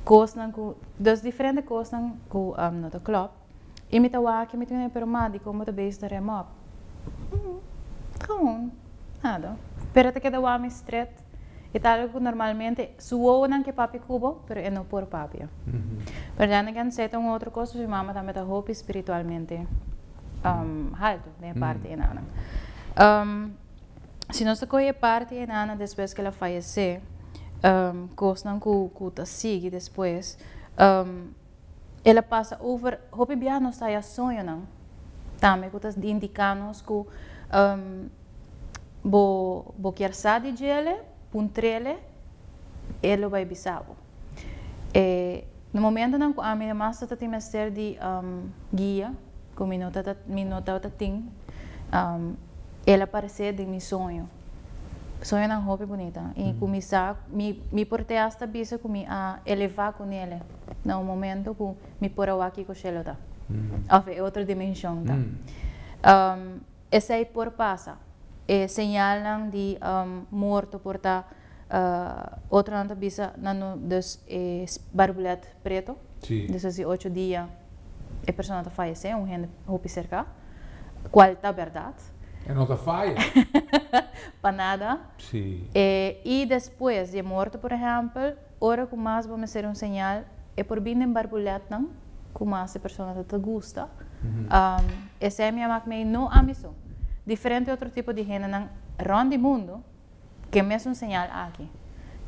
Kosnan ku, dos diferente kosnan ku no ta klòp. I mi ta wak i mi ta mina, pero ma, dikon bo ta bezig ta rem òp? Hm, gewoon, nada. Pero e ta keda wami stret. E ta algu ku normalmente su wowonan ke papia ku bo, pero e no por papia. Pero den e kensei ta un otro kos, pasobra mi mama tambe ta hopi spiritualmente haltu den e parti enan. si nos ta coge e parti e nana despues que el a fayece, cosnan cu cu ta sigui despues, el a pasa over hopi biaha nos ta haya soñonan tambe cu ta indica nos cu bo bo kier sa di djele, puntrele, e lo bay bisa bo. E na momentonan ku ami ta mas ta tin mester di guia ku mi no tabata tin, El a paresé den mi soño. Soñonan hopi bunita i ku mi sa, mi por te asta bisa ku mi a elevá ku Nele na un momento ku mi por a wak kiko shelu ta òf e otro dimenshon ta. Esei por pasa. E señalnan di morto por ta, otronan ta bisa na no dus e barbulet preto, dus a si ocho dia e persona ta fayesé, un hende hopi serká, kual ta bèrdat. E no ta faya. Pa nada. I despues di e morto, por ehèmpel. Ora ku mas bo mester un señal e por bin den barbuletnan ku mas e personanan ta gusta. Esei mi a mak mei, no ami so, diferente otro tipo di hendenan rònt di mundu ke mesun señal aki,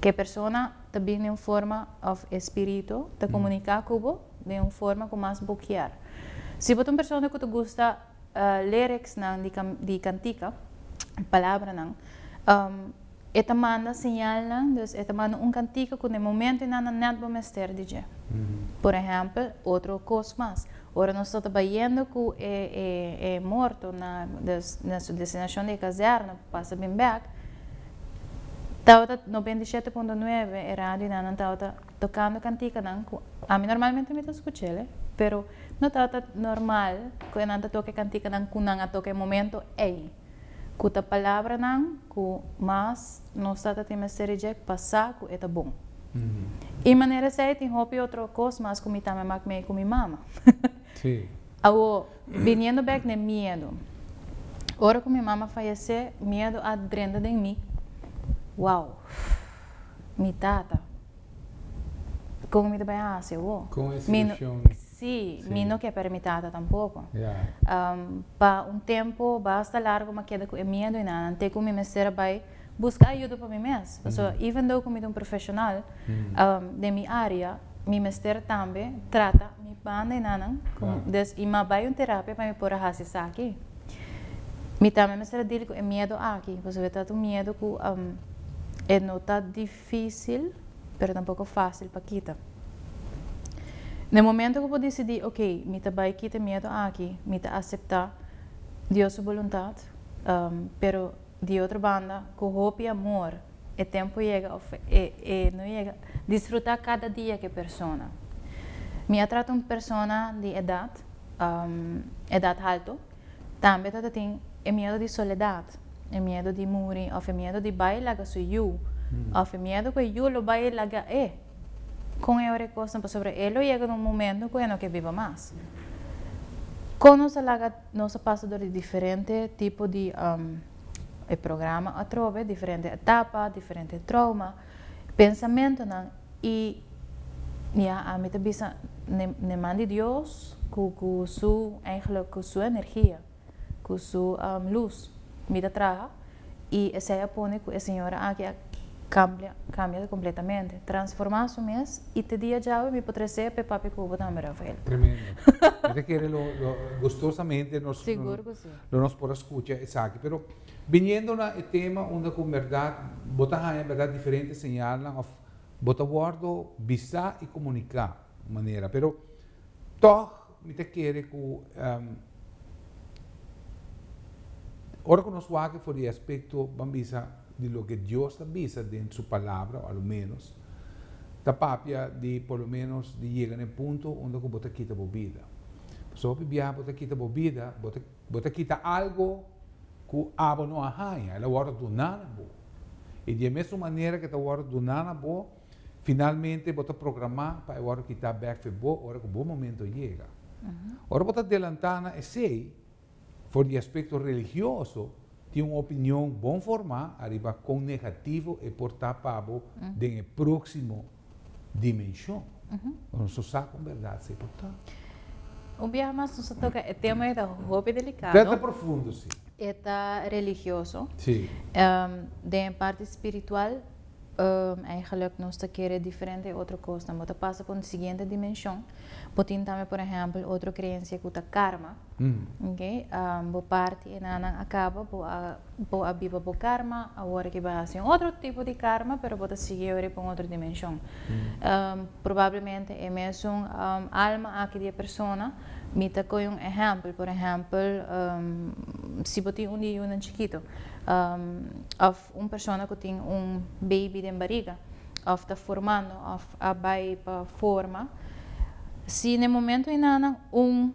ke e persona ta bin den un forma òf e spiritu ta komuniká ku bo den un forma ku mas bo kier. Si bo ta un persona ku ta gusta liriksnan di kantika, palabranan, E ta manda señalnan, dus e ta manda un kantika ku den momento i nan nan nèt bo mester di dje. Por ehèmpel, otro kos mas, ora nos ta ta bayendo ku e e e morto na dus na su destinashon di e kazèrna pa pasa bin bèk, tabata noventa i shete punto nueve e radio i nan nan tabata tokando kantikanan ku ami normalmente mi ta skuch'e, pero no tabata normal ku e nan ta toka e kantikanan ku nan a toka e momento ei. ku ta palabranan ku mas nos ta ta tin mester reject pa sa ku e ta bon. I manera esei tin hopi otro kos mas ku mi tambe mak mei ku mi mama. Awor, biniendo bek n'e miedu. Ora ku mi mama fayesé, miedu a drenta den mi. Wow! Mi tata, kon mi ta bai hasi awor? Mi no. Sí, mi no ke pa re mi tata tampoco. Pa un tempo basta largo m'a keda cu e miedo y nanan te cu mi mester a bay busca ayudo pa mi mes. Paso even though cu mi ta un profesional den mi area, mi mester tambe trata mi banda y nanan. Des y m'a bay un terapia pa mi por a haci esaki. Mi tambe mester a deal cu e miedo aki, pasobra e ta un miedo cu e no ta. Difísil, pero tampoko fásil pa kita. Den momento ku bo disidí, ok, mi ta bai kita e miedu aki, mi ta aseptá Dios su boluntat, pero di otro banda ku hopi amor, e tempu yega òf e no yega, disfrutá kada dia ku e persona. Mi a trata un persona di edat, edat haltu. Tambe tabatin e miedo di soledad, e miedo di muri of e miedo di bai laga su yu of e miedo cu e yu lo bai laga e con e ora e cosnan pasobra e lo yega na un momento cu e no ke biba mas. Con nos a laga nos a pasa dor di diferente tipo di e programa atrobe, diferente etapa, diferente trauma, Pensamentonan y ya ami ta bisa n'e man di Dios cu su eigenlijk cu su energia cu su luz mi ta traha y esey a pone cu e señora aki a cambia completamente, transforma su mes y te dia djawe mi por trece p'e papi cu bo tambe Rafael. Tremendo. Mi ta kere lo gustosamente lo nos por a scucha esaki pero. Biniendo na e tema unda ku berdad bo ta haña berdad diferente señalnan òf bo ta wòrdu bisá i komuniká un manera. Pero tòg mi ta kere ku ora ku nos wak for di e aspekto ban bisa di loke Dios ta bisa den su Palabra o aloménos ta papia di por lo ménos di yega na e punto unda ku bo ta kita bo bida. Pasobra hopi biaha bo ta kita bo bida bo ta. Bo ta kita algo ku abo no a haña, el a wòrdu duná na bo. I di e mesun manera ku e ta wòrdu duná na bo, finalmente bo ta programá pa e wòrdu kitá bèk for bo ora ku bo momentu a yega. Ora bo ta adelantá na esei, for di aspekto religioso, tin un opinion bon formá ariba kon negativo e por ta pa bo den e próksimo. dimenshon. Bo no so sa kon bèrdat se por ta. Un biaha mas nos a toka e tema, e ta hopi delikado. Prèt ta profundo, si. E ta religioso. Si. Den e parti spiritual, èigelik nos ta kere diferente e otro kosnan. Bo ta pasa pa un siguiente dimenshon. Bo tin tambe por ehèmpel otro kreensia ku ta karma, ok, bo parti enanan a kaba bo a bo a biba bo karma awor aki bo a hasi un otro tipo di karma pero bo ta sigui yori pa un otro dimenshon probablemente e mesun alma aki di e persona mi ta kohe un ehèmpel por ehèmpel si bo tin un diunan chikito òf. Un persona ku tin un beibi den bariga òf ta formando òf a bai pa forma, si n'e momentu ei nannan un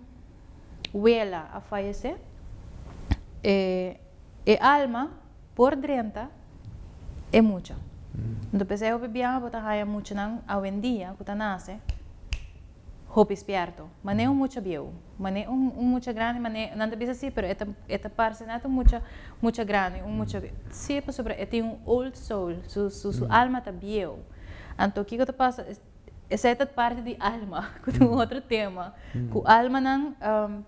wela a fayesé, e alma por drenta e mucha. Enton p'esei hopi biaha bo ta haña muchanan awendia ku ta nase Hopi spierto. Mané un mucha bieu. Mané un un mucha grandi, mané, nan ta bisa si, pero e ta e ta parse nada un mucha mucha grandi, un mucha bieu. Si, pasobra e tin un old soul, su su su alma ta bieu. Anto kiko ta pasa? Es esei ta parti di alma, ku ta un otro tema, ku almanan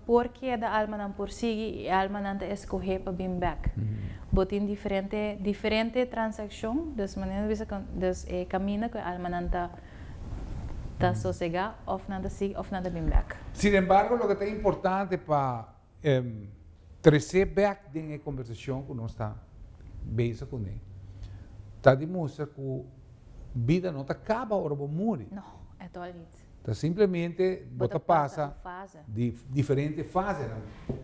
por keda, almanan por sigui i almanan ta eskohé pa bin bèk. Bo tin diferente diferente transakshon, dus mané nan ta bisa, dus e kaminda ku e almanan ta. ta sosega òf nan ta sigui òf nan ta bin bèk. Sin embargo, loke ta importante pa tresé bèk den e kombersashon ku nos ta beza kuné, ta di mustra ku bida no ta kaba ora bo muri. No, at all nit. Ta simplemente bo ta pasa di diferente fasenan.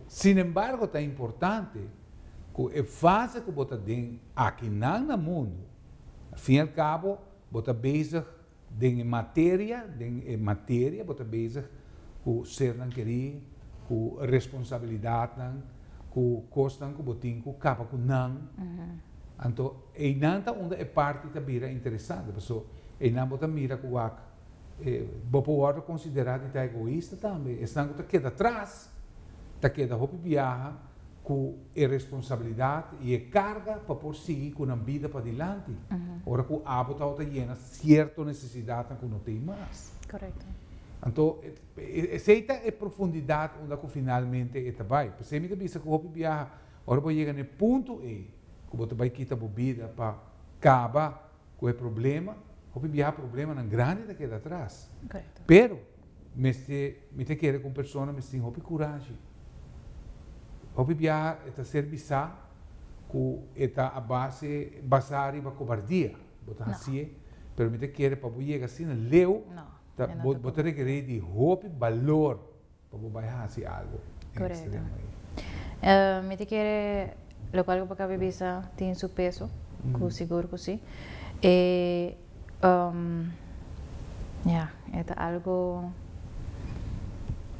Sin embargo, ta importante ku e fase ku bo ta den aki nan na mundu, al fin y al cabo, Bo ta bezig den e materia, den e materia bo ta bezig ku sernan kerí, ku responsabilidatnan, ku kosnan ku bo tin ku kaba ku nan, anto einan ta unda e parti ta bira interesante, paso einan bo ta mira ku wak e bo por wòrdu konsiderá di ta egoista tambe, esnan ku ta keda tras ta keda hopi biaha. ku e responsabilidat i e karga pa por sigui ku nan bida padilanti ora ku abo tabata ta yena sierto nesesidatnan ku no tei mas. Korekto. Anto, esei ta e profundidat unda ku finalmente e ta bai. P'esei mi ta bisa ku hopi biaha, ora bo yega na e punto ei ku bo ta bai kita bo bida pa kaba ku e problema, hopi biaha problemanan grandi ta keda atras. Pero. Mester, mi ta kere ku un persona mester tin hopi kurashi. Hopi biaha e ta ser bisa ku e ta a base, basa riba kobardia bo ta hasié, pero mi ta kere pa bo yega asina leu, ta, bo, bo ta rekerí di hopi balor pa bo bai hasi algu den e ekstremo ei. Mi ta kere, lokual ku bo kaba di bisa tin su peso, ku sigur ku si. E. Ya, e ta algo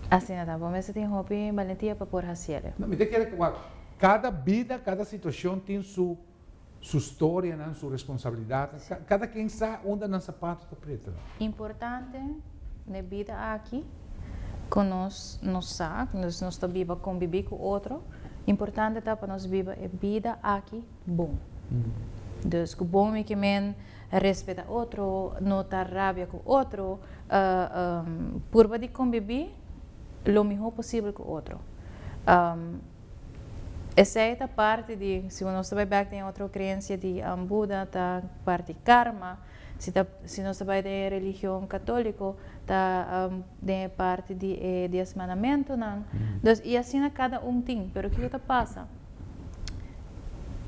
asina ta. Bo mester tin hopi balentia pa por hasi el. Mi ta kere kua kada bida, kada situashon tin su su storianan, su responsabilidatnan. Si. Kada ken sa unda nan sapatu ta preta. Importante n'e bida aki ku nos nos sa, nos nos ta biba kombibí ku otro, importante ta pa nos biba e bida aki. bon. Dus ku bon mi ke men respeta otro, no ta rabia ku otro, purba di kombibí lo mihó posibel ku otro. Esei ta parti di, si nos ta bai bèk den e otro kreensia di Buda ta parti karma. Si nos ta bai den e religion católico ta den e parti di e dies mandamentonan. Dus y asina cada un tin. Pero kico ta pasa?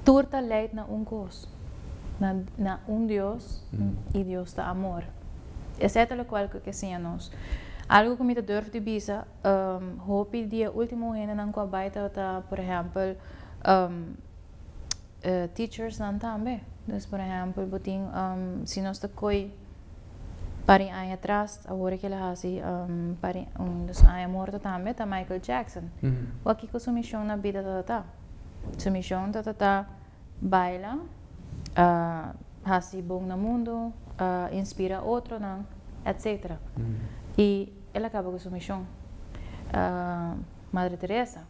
Tur ta leid na un cos, na un Dios y Dios ta amor. Esey ta locual cu ke siña nos. Algo cu mi ta durf di bisa, hopi di e ultimo hendenan cu a bai ta por ehempel. teachersnan tambe. Dus por ehèmpel bo tin, si nos ta koi par di aña atras, awor ekel a hasi par di un dos aña morto tambe, ta Michael Jackson. Wak kiko su mishon na bida tatatá. Su mishon tatatá baila, hasi bon na mundu, inspira otronan, etcetera. I el a kaba ku su mishon. Madre Teresa.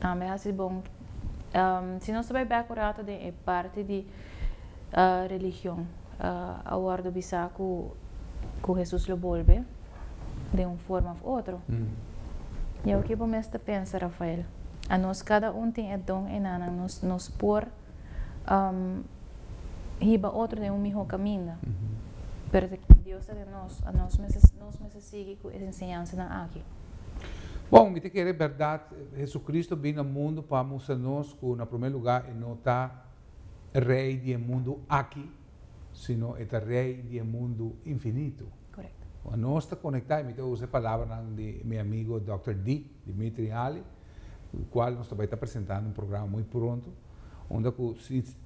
Ah, mi hasi bon. Um, si nos ta bai bek un rato den e parti di uh, religion, uh, a wordo bisa ku, ku Jesus lo bolbe den un forma of otro. Mm. Jou ke bo mes ta pensa, Rafael? Anos kada un tin e don enanan nos, nos por. um, hiba otro den un mihó kaminda. Pero si Dios ta den nos, a nos mester, nos mester sigui ku e enseñansanan aki. Bon, mi ta kere bèrdat, Hesukristu bin na mundu pa mustra nos ku na promé lugá e no ta Rei di e mundu aki, sino e ta Rei di e mundu infinitu. Korekto. Nos ta konektá, i mi ta usa e palabranan di mi amigo Dòkter Di, Dimitri Hali, cu cual nos ta bay ta presenta un programa muy pronto, unda cu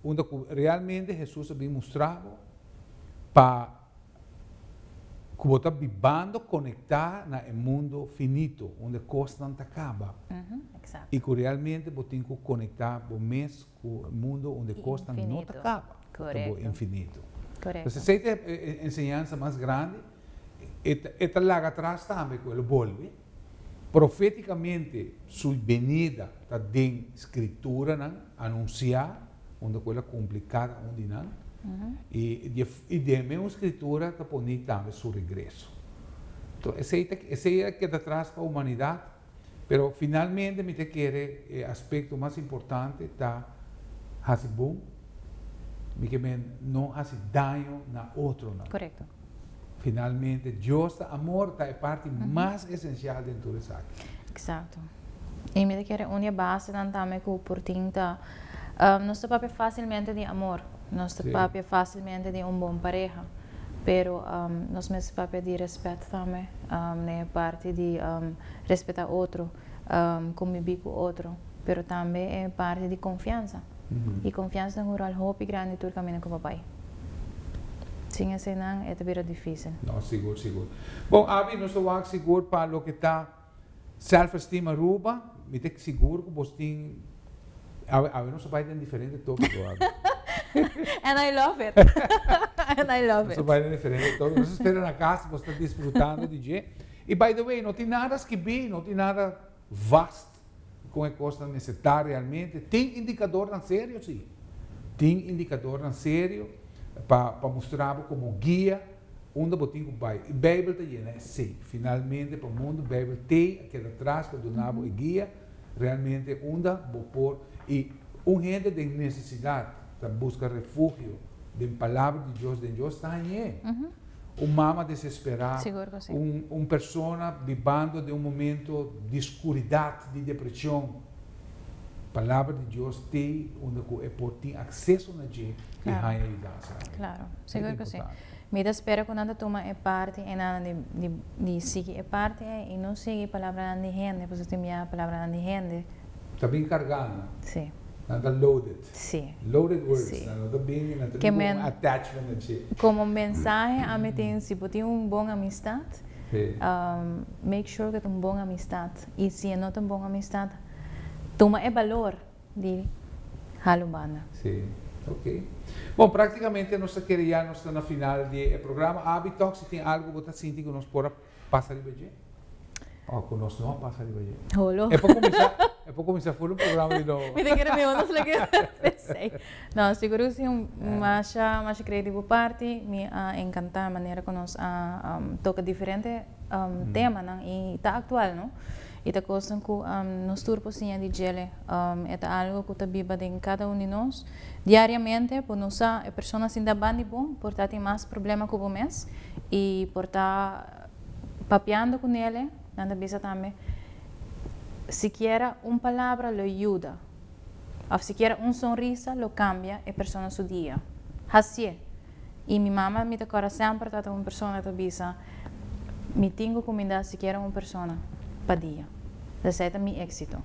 unda cu realmente Hesus a bin mustra bo pa cu bo ta bibando conecta na e mundo finito unda e cosnan ta caba y cu realmente bo tin cu conecta bo mes cu e mundo unda e cosnan no ta caba, ta bo infinito. Pues esey ta e enseñansa mas grandi, e ta laga atras tambe cu el lo bolbe. Proféticamente Su benida ta den Scripturanan anunsiá unda cu El a cumpli cada un di nan, y y den e mesmo Scriptura ta poni tambe Su regreso. Enton esey ta esey a keda tras pa humanidad, pero finalmente mi ta kere e aspecto mas importante ta haci bon, mi ke men no haci daño na otronan. Correcto. Finalmente, Dios ta amor, ta e parti mas esencial den tur esaki. Exacto. Y mi ta kere uni e basenan tambe cu por tin ta, nos ta papia facilmente di amor, nos ta papia facilmente di un bon pareha, pero nos mester papia di respet tambe den e parti di respeta otro, conbibi cu otro, pero tambe e parti di confiansa. i konfiansa ta hura'l hopi grandi tur kaminda ku bo bai. Sin eseinan e ta bira difísil. No, sigur, sigur. Bon, abi nos ta wak sigur pa loke ta sèlfestim Aruba. Mi ta sigur ku bos tin, abi, abi nos ta bai den diferente tópiko, abi. And I love it, and I love it. Nos ta bai den diferente tópiko. Nos ta spera na kas bos ta disfrutando di dje. I by the way, no tin nada skibí, no tin nada vast. kon e kosnan mester ta realmente. Tin indikadornan serio, si. Tin indikadornan serio pa pa mustra bo komo guia unda bo tin ku bai. I Beibel ta yena esei. Finalmente pa mundu Beibel t'ei a keda tras pa duna bo e guia realmente unda bo por. I un hende den nesesidat ta buska refugio den Palabra di Dios, den Dios, ta hañ'é. un mama desesperá, un persona bibando den un momento di skuridat, di depreshon, Palabra di Dios t'e unda ku e por tin akseso na dje i haña yudansa aki. Klaro, sigur ku si. Mi ta spera ku nan ta tuma e parti enan di sigui e parti ei i no sigui palabranan di hende, pasobra tin bia palabranan di hende. Ta bin kargá nan. Si. Nan ta loaded. Sí. Loaded words. Sí. Nan no ta bini nan ta bini ku un attachment na dje. Komo mensahe ami tin si bo tin un bon amistad make sure ku ta un bon amistad i si e no ta un bon amistad tuma e balor di halo banda. Sí. Ok. Bon praktikamente nos ta kere ya nos ta na final di e programa. Abi tòg si tin algu ku bo ta sinti ku nos por a. Pasa riba dje? Oh, cu nos no a pasa riba dje. Holo. E por cuminsa, e por cuminsa full un programa di nobo. Mi ta kere mi hono solo kere pesey. No, sigur cu si. Masha, masha creyo di bo parti. Mi a encanta manera cu nos a toca diferente temanan y ta actual, no. I ta kosnan ku nos tur por siña di djel'e. E ta algu ku ta biba den kada un di nos diariamente. Por nos sa e persona asin ta ban di bo, por ta tin mas problema ku bo mes i por ta papiando ku nele. Nan ta bisa tambe, Sikiera un palabra lo yuda, òf sikiera un sonrisa lo kambia e persona su dia. Hasié. I mi mama mi ta kòrda semper tabata un persona ta bisa, Mi tin ku kumindá sikiera un persona pa dia. Esei ta mi éksito.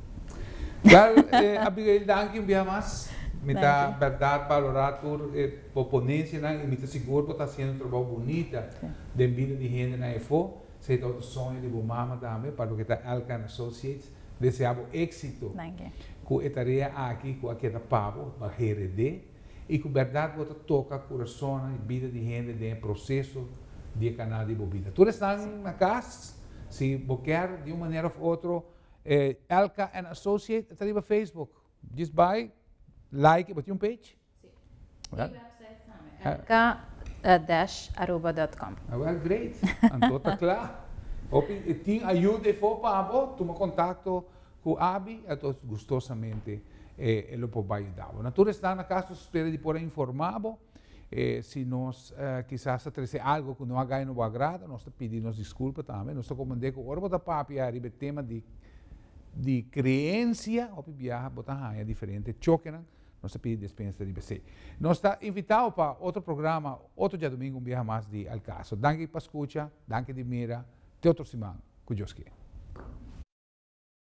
Wèl, Abigail danki un bia mas. Mi ta bèrdat balorá tur e bo ponencianan i mi ta sigur bo ta haciendo un trabou bunita den bida di hendenan efó. Esei ta otro soño di bo mama tambe, pa loke ta Elkan Associates. Deseá bo éksito ku e tarea aki ku a keda pa bo, Bagerede. i ku bèrdat bo ta toka kurasonnan i bida di hende den e proseso di e kanal di bo bida. Tur esnan na kas, si bo kèr di un manera òf otro e Elka and Associate e ta riba Facebook, djis bai like, bo tin un page? Si. I website tambe, elka dash aruba dot com. Awèl, great! Anto ta kla. Hopi tin ayuda efo pa bo, tuma kontakto Cu abi e ta gustosamente e lo por bay yudabo. Na tur esnan na caso spera di por a informabo si nos kisas ta trece algo cu no a gay no bo agrado, nos ta pidi nos disculpa tambe. Nos ta comprende cu ora bo ta papia riba e tema di di creencia hopi biaha bo ta haya diferente chokenan, nos ta pidi despensa riba esey. Nos ta invita bo pa otro programa otro diadomingo un biaha mas di Al Caso. Danki pa scucha, danki di mira, te otro siman cu Dios kier.